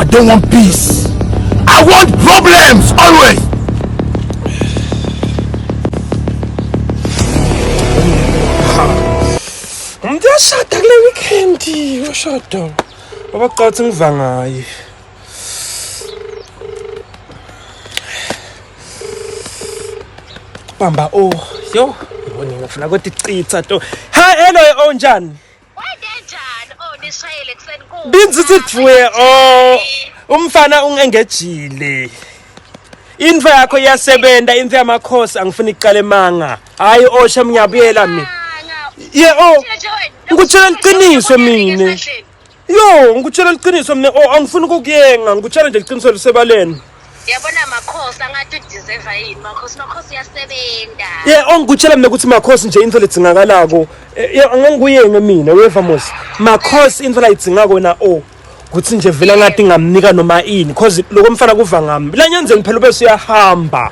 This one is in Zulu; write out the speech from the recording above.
I don't want peace. I want problems always. Umuntu uyashada kule weekend, uyashada. Abaqathi ngiva ngaye. Bamba oh, yo. Yibona ngifuna ukuthi citha to. Ha, hello onjani? Wadenjani oh nishayele kuseni ku. Binzithi thwe oh umfana ungengejile. Into yakho iyasebenza into yamakhosi angifuni iqale manga. Hayi osha oh, mnyabuyela mina. Ye oh ngikutshela iqiniso mina. Yo ngikutshela iqiniso mina oh angifuni ukukuyenga ngikutshela nje iqiniso lisebaleni. Yabona Makhosi angathi udeserve yini Makhosi Makhosi uyasebenza. Yeah ongikutshela mina ukuthi Makhosi nje into ledzingakalako. Eh, yeah anganguyenge mina weva mos. Makhosi into layidzinga kona o. Kuthi nje vela ngathi ngamnika noma ini because lokho mfana kuva ngami. La nyanzeni phela ubese uyahamba.